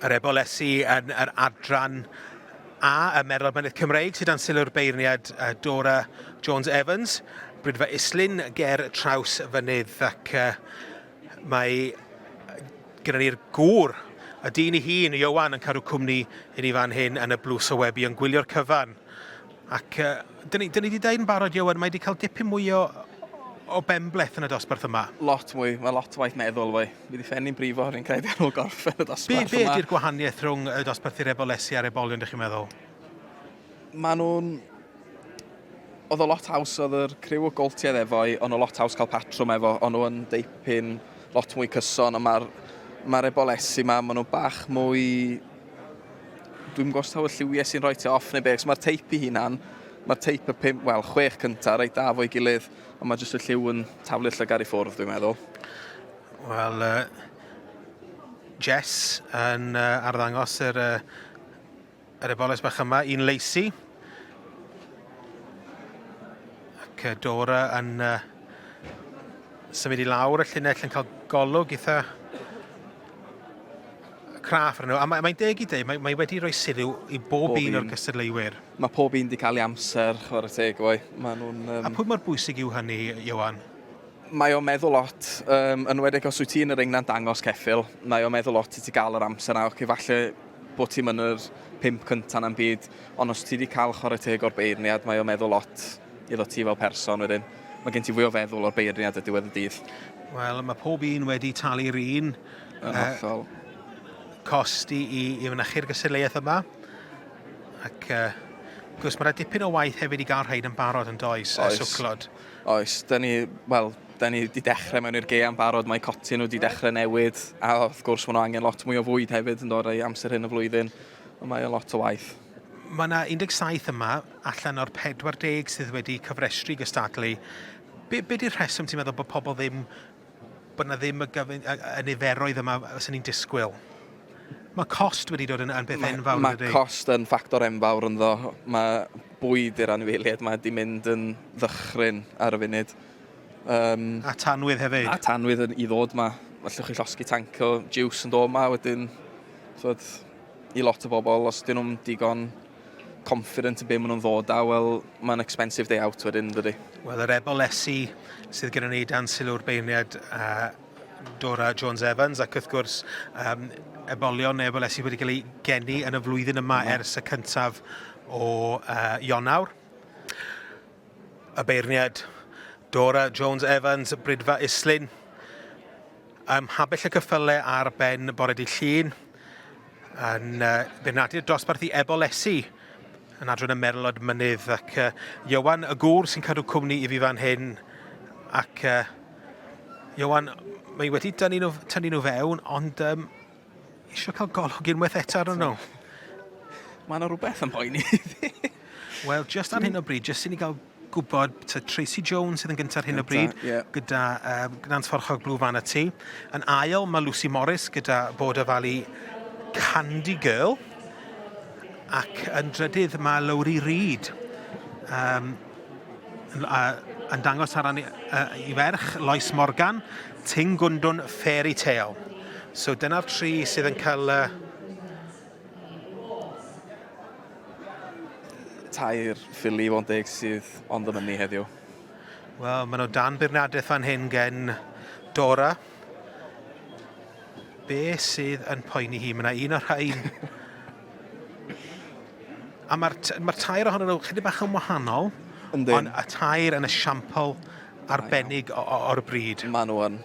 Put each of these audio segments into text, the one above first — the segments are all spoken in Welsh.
Yr ebolesi yn yr adran A y Merol Mynydd Cymreig sydd dan sylw'r beirniad Dora Jones Evans, Brydfa Islyn ger traws fynydd ac uh, mae gyda ni'r gŵr, y dyn i hun, Iowan, yn cadw cwmni i ni fan hyn yn y blws o webi yn gwylio'r cyfan. Ac yy, dyn ni, dyn ni 'di deud yn barod, Ioan, mae 'di cael dipyn mwy o, o benbleth yn y dosbarth yma. Lot mwy, mae lot o waith meddwl fwy. Mi ddi ffenni'n brifo, rwy'n credu ar ôl gorffen y Be, dosbarth yma. be ydy'r gwahaniaeth rhwng y dosbarthu rebolesu a'r ebolion, dych chi'n meddwl? Mae nhw'n... Oedd o lot haws, oedd yr criw o goltiedd efo i, o'n nhw lot haws cael patrwm efo, o'n nhw yn deipyn lot mwy cyson, ond mae'r, mae'r ebol-esi 'ma, mae nhw bach mwy... Dwi'm yn gwybod os taw y lliwiau sy'n rhoi ti off neu be, cos mae'r teip i hunan, mae'r teip y pum, wel, chwech cynta, reit da fo'i gilydd, ond mae jyst y lliw yn taflu'r llygad i ffwrdd, dwi'n meddwl. Wel, uh, Jess yn uh, arddangos yr, uh, yr eboles bach yma i'n leisi. Ac uh, Dora yn uh, symud i lawr y llinell yn cael golwg eitha craff arno. A mae'n mae deg i dweud, mae, mae wedi rhoi sylw i bob, bob un o'r cystadleuwyr. Mae pob un wedi cael ei amser, chwarae teg, oi. Mae nhw'n... Um... A pwy mor bwysig yw hynny, Iwan? Mae o'n meddwl lot, um, yn wedeg os wyt ti yn yr engna'n dangos ceffil, mae o'n meddwl lot i ti gael yr amser na, oce, falle bod ti'n yn yr pimp cyntaf na'n byd, ond os ti wedi cael chwarae teg o'r beirniad, mae o'n meddwl lot iddo ti fel person wedyn. Mae gen ti fwy o feddwl o'r beirniad y diwedd y dydd. Wel, mae pob un wedi talu'r un... Yn hollol. Uh, cost i, i, i fynychu'r gystadleuaeth yma. Ac uh, gwrs, mae rhaid dipyn o waith hefyd i gael rhaid yn barod yn does, oes. a swclod. Oes, da ni, wel, da ni wedi dechrau mewn i'r geam barod, mae coti nhw wedi dechrau newid, a wrth gwrs maen nhw angen lot mwy o fwyd hefyd yn dod ei amser hyn y flwyddyn, ond mae e lot o waith. Mae yna 17 yma allan o'r 40 sydd wedi cyfrestru gystadlu. Be, be di'r rheswm ti'n meddwl bod pobl ddim, bod yna ddim y, gyfyn, y, y niferoedd yma sy'n ni'n disgwyl? Mae cost wedi dod yn, yn beth enfawr. Mae ma cost yn ffactor enfawr ynddo. Mae bwyd i'r anifeiliaid mae wedi mynd yn ddychryn ar y funud. Um, a tanwydd hefyd. A tanwydd yn, i ddod yma. Felly chi llosgi tanc o juice yn dod yma wedyn. So, I lot o bobl, os dyn nhw'n digon confident yn be maen nhw'n ddod â, wel, mae'n expensive day out wedyn, dydy? Wel, yr ebol-lesi sydd gyda ni dan sylw'r beirniad uh, Dora Jones Evans ac wrth gwrs um, ebolion neu ebol-lesi wedi cael ei geni yn y flwyddyn yma mm. ers y cyntaf o uh, Ionawr. Y beirniad, Dora Jones Evans, Brydfa Islyn, ym Mhabell y Cyffyle ar ben bore dydd Llun, yn beirniadu'r dosbarth i Ebol Esi, yn adran y Merlod Mynydd, ac uh, Iwan y Gŵr sy'n cadw cwmni i fi fan hyn, ac uh, Iwan, mae wedi tynnu nhw, tynnu nhw fewn, ond um, Isio cael golwg unwaith eto ar nhw. Mae yna rhywbeth yn poeni fi. Wel, just ar hyn o bryd, just i ni gael gwybod, ta Tracy Jones sydd yn gyntaf ar hyn o bryd, yeah. gyda um, Gnan Forchog Blue Van y tu. Yn ail, mae Lucy Morris gyda Border Valley Candy Girl. Ac yn drydydd, mae Lowry Reid um, a, yn dangos ar ran i ferch, Lois Morgan, Ting Gundwn Fairy Tale. So dyna'r tri sydd yn cael uh, tair ffili i fod yn deg sydd ond yn mynnu heddiw? Wel, maen nhw dan beirniadaeth fan hyn gen Dora, Be sydd yn poeni hi? Mae yna un o'r rhain. A mae'r ma tair ohonyn nhw chydig bach yn wahanol. Yndyn. Ond y tair yn esiampl arbennig o'r bryd. Mae nhw yn.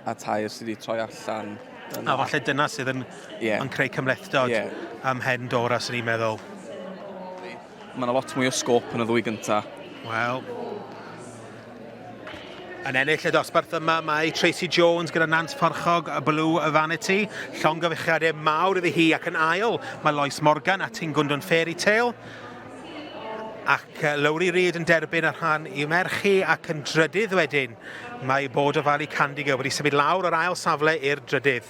A tair sydd wedi troi allan. Yna. A falle dyna sydd yn, yeah. yn creu cymlethdod yeah. am hen Dora, sy'n ni'n meddwl. Mae yna lot mwy o sgôp yn y ddwy gynta. Wel, yn ennill y dosbarth yma mae Tracy Jones gyda Nant Porchog a Blue y Vanity. Llongyfechiadau mawr iddi hi ac yn ail mae Lois Morgan a Tingundun Fairy Tale. Ac Lowry Reid yn derbyn y rhan i merch hi ac yn drydydd wedyn mae Bod o Fali Candigo wedi symud lawr o'r ail safle i'r drydydd.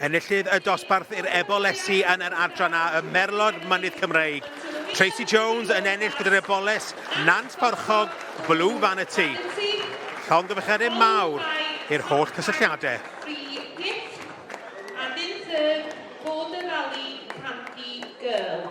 Enillydd y dosbarth i'r Ebolesi yn yr adran A ym Merlod Mynydd Cymreig, Tracy Jones yn ennill gyda'r Eboles Nant Porchog, Blue Vanity. Llongyfarchiadau mawr i'r holl cysylltiadau. Tri Gift a dim third fod y rali Panti Girl.